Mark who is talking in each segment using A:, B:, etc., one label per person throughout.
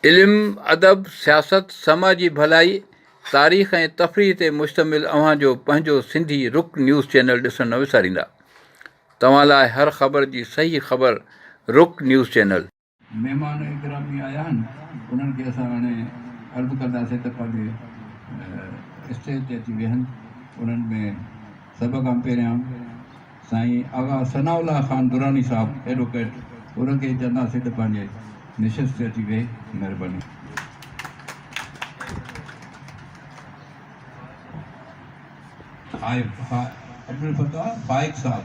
A: علم، ادب، سياست، سماجي ڀلائي، تاريخ ۽ تفريح تي مشتمل اوهان جو پنهنجو سنڌي رڪ نيوز چينل ڏسڻ نه وساريندا. توهان لاء هر خبر جي صحيح خبر رڪ نيوز چينل. مهمان
B: گرامي آيا آهن انهن کي اسان هاڻي عرض ڪنداسين ته پنهنجي اسٽيج تي اچي ويهن انهن ۾ سڀ کان پهريان سائين آغا ثناء الله خان دراني صاحب ايڊوڪيٽ ان کي چونداسين ته پنهنجي نشست تي اچي ويهي مهرباني عبدالفتاح فائق صاحب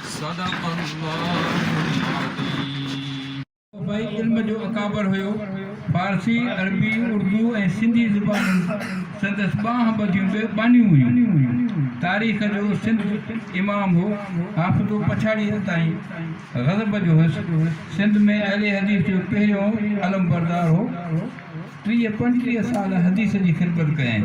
C: صدق الله العظيم. صوبائي
B: علم جو اڪابر هيو. فارسي، عربي، اردو ۽ سنڌي زبانون سندس ٻانهن ٻڌيون به ٻانهيون هيون. تاريخ جو سنڌ امام هو. حافظو پڇاڙيء تائين غضب جو هيس. سنڌ ۾ اهل حديث جو پهريون علمبردار هو. ٽيهه پنجٽيهه سال حديث جي خدمت ڪيائين.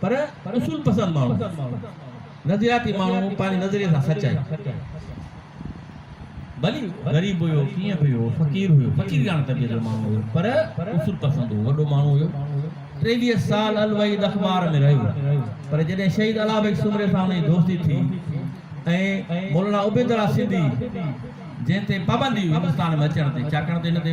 D: پر اصول پسند ماڻهو، نظرياتي ماڻهو پنهنجي نظريي سان سچ آهي. ڀلي غريب هيو، ڪيئن به هيو، فقير هيو، فقيرياڻي طبيعت جو ماڻهو هيو، پر اصول پسند هو، وڏو ماڻهو هيو. ٽيويهه سال الوحيد اخبار ۾ رهيو، پر جڏهن شهيد الاء بيگ سومري سان هن جي دوستي ٿي ۽ مولانا عبيدالله سنڌي جنهن تي پابندي هئي هندستان ۾ اچڻ تي، ڇاڪاڻ ته هن تي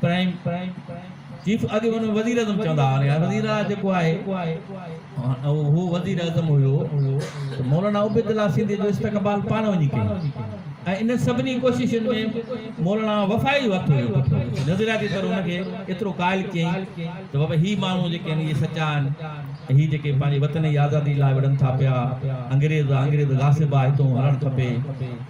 D: پرائم چيف اڳي هن وزير اعظم چوندا هئا يار وزير اعليٰ جيڪو آهي هو وزير اعظم هيو ته مولانا عبيد الله سنڌي جو استقبال پاڻ وڃي ڪيو ۽ انهن سڀني ڪوششن ۾ مولانا وفائي جو هٿ هيو نظرياتي طور هن کي ايترو قائل ڪيائين ته بابا هي ماڻهو جيڪي آهن اهي سچا آهن هي جيڪي پنهنجي وطن جي آزادي لاء وڙهن ٿا پيا انگريز آ انگريز غاصب آ هتون هلڻ کپي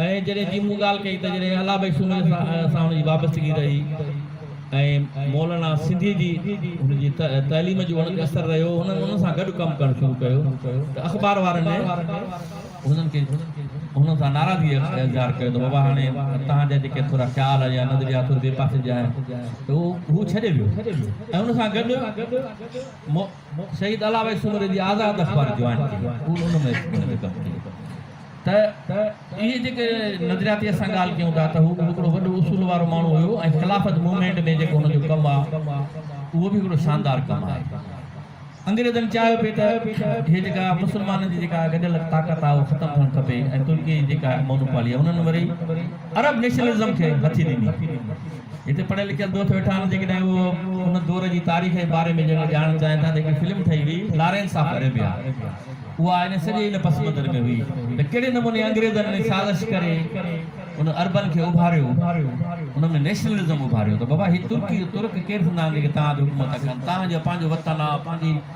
D: ۽ جڏهن جي مون ڳالهه ڪئي ته جڏهن الله بخش سومري سان هن جي وابستگي رهي ۽ مولانا سنڌيء جي هن جي تعليم جو هن تي اثر رهيو، هنن ان سان گڏ ڪم ڪرڻ شروع ڪيو ته اخبار وارن هنن کي هنن سان ناراضگي اظهار ڪيو ته بابا هاڻي توهان جا جيڪي ٿورا خيال يا نظريا ٿوري ٻئي پاسي جا آهن ته هو ڇڏي ويو ۽ ان سان گڏ مون شهيد علاوه سومري جي آزاد اخبار جوائن ڪئي هو ان ۾ ان ۾ ڪم ڪيو ته اهي جيڪي نظرياتي اسان ڳالهه ڪيون ٿا ته هو به هڪڙو وڏو اصول وارو ماڻهو هيو ۽ خلافت موومينٽ ۾ جيڪو هن جو ڪم آ اهو به هڪڙو شاندار ڪم آهي انگريزن چاهيو پئي ته هي جيڪا مسلمانن جي جيڪا گڏيل طاقت آ اهو ختم ٿيڻ کپي ۽ ترڪي جي جيڪا مونوپالي آ انهن وري عرب نيشنلزم کي هٿي ڏني هتي پڙهيل لکيل دوست ويٺا آهن جيڪڏهن اهي ان دور جي تاريخ جي باري ۾ جيڪو ڄاڻڻ چاهين ٿا ته هڪڙي فلم ٺهي هئي لارينس آف اريبيا اها ان سڄي ان پس منظر ۾ هئي ته ڪهڙي نموني انگريزن ان سازش ڪري ان عربن کي اڀاريو انهن ۾ نيشنلزم اڀاريو ته بابا هي ترڪي ترڪ ڪير ٿيندا آهن جيڪي توهان تي حڪومت ڪن توهان جو پنهنجو وطن آهي پنهنجي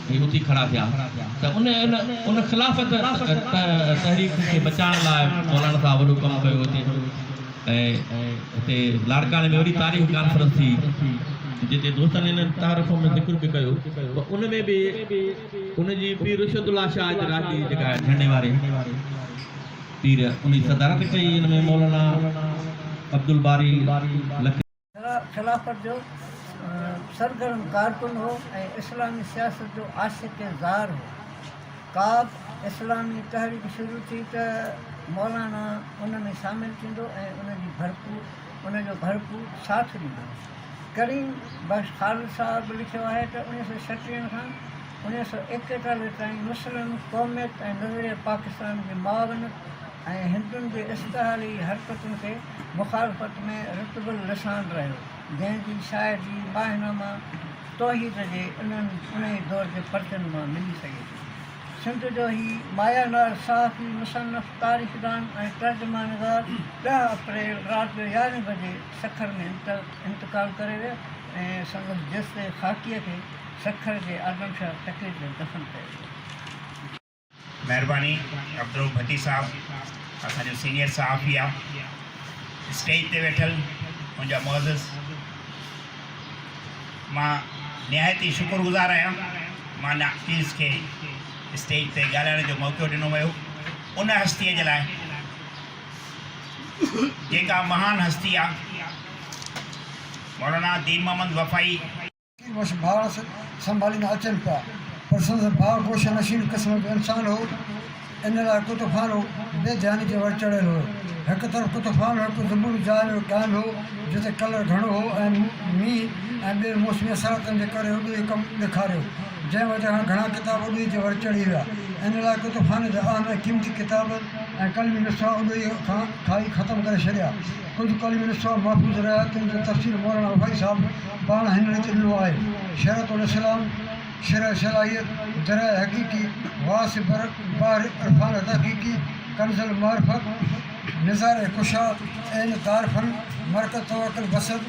D: هي اٿي کڙا ٿيا ته ان ان خلافت تحريڪ کي بچائڻ لاء مولانا صاحب وڏو ڪم ڪيو هتي ۽ هتي لاڙڪاڻي ۾ وڏي تاريخ ڪانفرنس ٿي جتي دوستن هن تعارف ۾ ذڪر به ڪيو ته ان ۾ به ان جي پير رشد الله شاهه جي راڄي جيڪا جهنڊي واري پير ان جي صدارت ڪئي ان ۾ مولانا عبدالباري لکي خلافت
E: جو سرگرم ڪارڪن هو ۽ اسلامي سياست جو عاشق ۽ زار هو. ڪاب اسلامي تحريڪ شروع ٿي ته مولانا ان ۾ شامل ٿيندو ۽ ان جي ڀرپور ان جو ڀرپور ساٿ ڏيندو هو. ڪريم بخش خالد صاحب لکيو آهي ته اڻيهه سؤ ڇٽيهن کان اڻيهه سؤ ايڪيٽالهه تائين مسلم قوميت ۽ نظريه پاڪستان جي معاونت، ۽ هندن جي استحالي حرڪتن کي مخالفت ۾ رطب اللسان رهيو، جنهن جي شاهدي ماهنامه توحيد جي انهي دور جي پرچن مان ملي سگهي ٿي. سنڌ جو هي مايا ناز صحافي، مصنف، تاريخدان ۽ ترجمان نگار ڏهه اپريل رات جو يارهين بجي سکر ۾ انتقال ڪري ويو ۽ سندس جثي خاڪيء کي سکر جي آدمشاهه ٽڪيٽ ۾ دفن ڪيو ويو. مھرباني
F: عبدالرؤف ڀٽي صاحب اسان جو سينيئر صحافي آ اسٽيج تي ويٺل منهنجا معزز مان نهايت ئي شڪر گذار آهيان مان ناقيز کي اسٽيج تي ڳالهائڻ جو موقعو ڏنو ويو ان هستيء جي لاء جيڪا مهان هستي آ مولانا دين محمد وفائي ڪي وس
G: ڀاس سنڀاليندا اچن پيا، پر سندس ڀاء گوشه نشين قسم جو انسان هو، ان لاء ڪتوخان او بي ڌياني جي ور چڙهيل هو. هڪ طرف ڪتوخان هڪ زمبوري جاء ۾ قائم هو، جتي ڪلر گهڻو هو ۽ مينهن ۽ ٻين موسمي اثراتن جي ڪري اڏوهي ڪم ڏکاريو، جنهن وجه کان گهڻا ڪتاب اڏوهي جي ور چڙهي ويا. ان لاء ڪتوخان جا اهم ۽ قيمتي ڪتاب ۽ قلمي نسخا اڏوهي کان کائي ختم ڪري ڇڏيا. اردو ڪالم ۾ نسخا محفوظ رهيا، تن جو تفسير مولانا وفائي صاحب پاڻ هن ريت ڏنو آهي، شرح الاسلام، شرح صلاحيت، درع حقيقي، غاث بر بحر عرفان التحقيقي، کنز المعرفت، نظار ڪشا، عين دار فن، مرقد توکل بسط،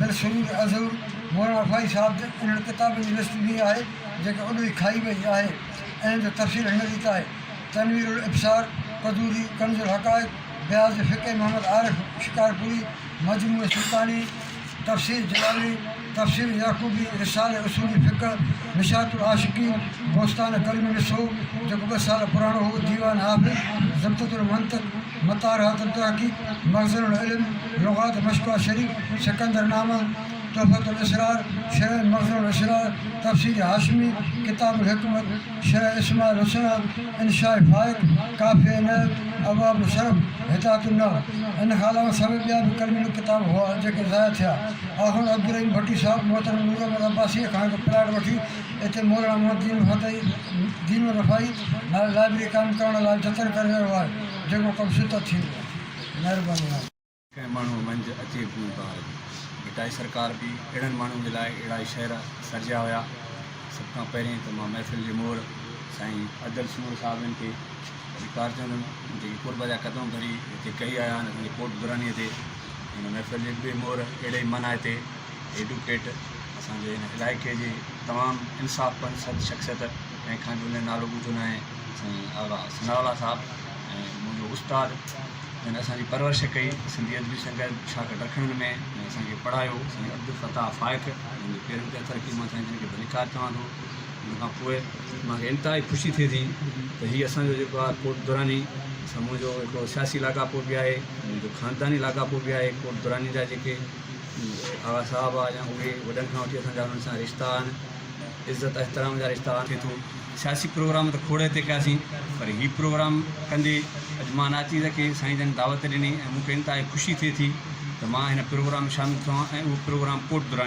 G: بالسرور الظهور، مولانا وفائي صاحب جي انهن ڪتابن جي لسٽ ڏني آهي، جيڪي اڏو ئي کائي وئي آهي، انهن جو تفسير هن ريت آهي، تنوير الابصار، قدوري، کنز الحقائق، بيان جي فقيه محمد عارف شڪارپوري، مجموع سلطاني، تفسير جلالي، تفسير يعقوبي، رساله اصولي فقه، مشاة العاشقين، بوستان ڪريم مصرو، جيڪو ٻه سال پراڻو هو، ديوان حافظ، زبدة المنطق، مطارحات التحقيق، مخزن العلم، لغات مشڪوه شريف، سڪندر نامه، تحفة الاسرار، شرح مخزن الاسرار، تفسير هاشمي، ڪتاب الحڪمت، شيخ اسماعيل حسين انشاء فائق، ڪافي عنايت، ابواب الشرف، هدايت النور ان کان علاوه سوين ٻيا به ڪلمي ڪتاب هئا جيڪي ضايع ٿيا. آخوند عبدالرحيم ڀٽي صاحب محترم نور احمد عباسيء کان هڪ پلاٽ وٺي اتي مولانا محمد دين الفتح دين الرفاعي نالي لائبرري قائم ڪرڻ لاء جتن ڪري رهيو آهي جيڪو ڪم شدت ٿيندو. مهرباني آهي. ڪنهن ماڻهوء
H: منجهه اچي گون ڪار ڀٽائي سرڪار به اهڙن ماڻهن جي لاء اهڙا ئي شعر سرجيا هيا. سڀ کان پهرين ته مان محفل جي مور سائين ادل سمور صاحب جن کي ڌڪار چوندم جيڪي قرب جا قدم ڀري هتي ڪهي آيا آهن اسان جي ڪوٽ درانيء تي هن محفل جي ٻئي مور اهڙي ئي مانائتي ايڊوڪيٽ اسان جي هن علائقي جي تمام انصاف پسند شخصيت ڪنهن کان جو هن جو نالو ٻڌو ناهي سائين آغا ثناء الله صاحب ۽ منهنجو استاد جنهن اسان جي پرورش ڪئي سنڌي ادبي سنگت شاگرد رکڻ ۾ ۽ اسان کي پڙهايو سائين عبدالفتاح فائق جن جي پيرن تي اٿر ڪيم مان سائين جن کي ڀليڪار چوان ٿو ان کان پوء مان کي انتهائي خوشي ٿئي ٿي ته هي اسان جو جيڪو آهي ڪوٽ دراني سا منهنجو هڪڙو سياسي لاڳاپو به آهي منهنجو خانداني لاڳاپو به آهي ڪوٽ دراني جا جيڪي آغا صاحب آهي يا اهي وڏن کان وٺي اسان جا انهن سان رشتا آهن عزت احترام جا رشتا آهن. ٿئي ٿو سياسي پروگرام ته کوڙي تي ڪياسين پر هي پروگرام ڪندي اڄ مان ناچيز کي سائين جن دعوت ڏني ۽ مون کي انتهائي خوشي ٿئي ٿي ته مان هن پروگرام ۾ شامل ٿيو هان ۽ اهو پروگرام ڪوٽ دراني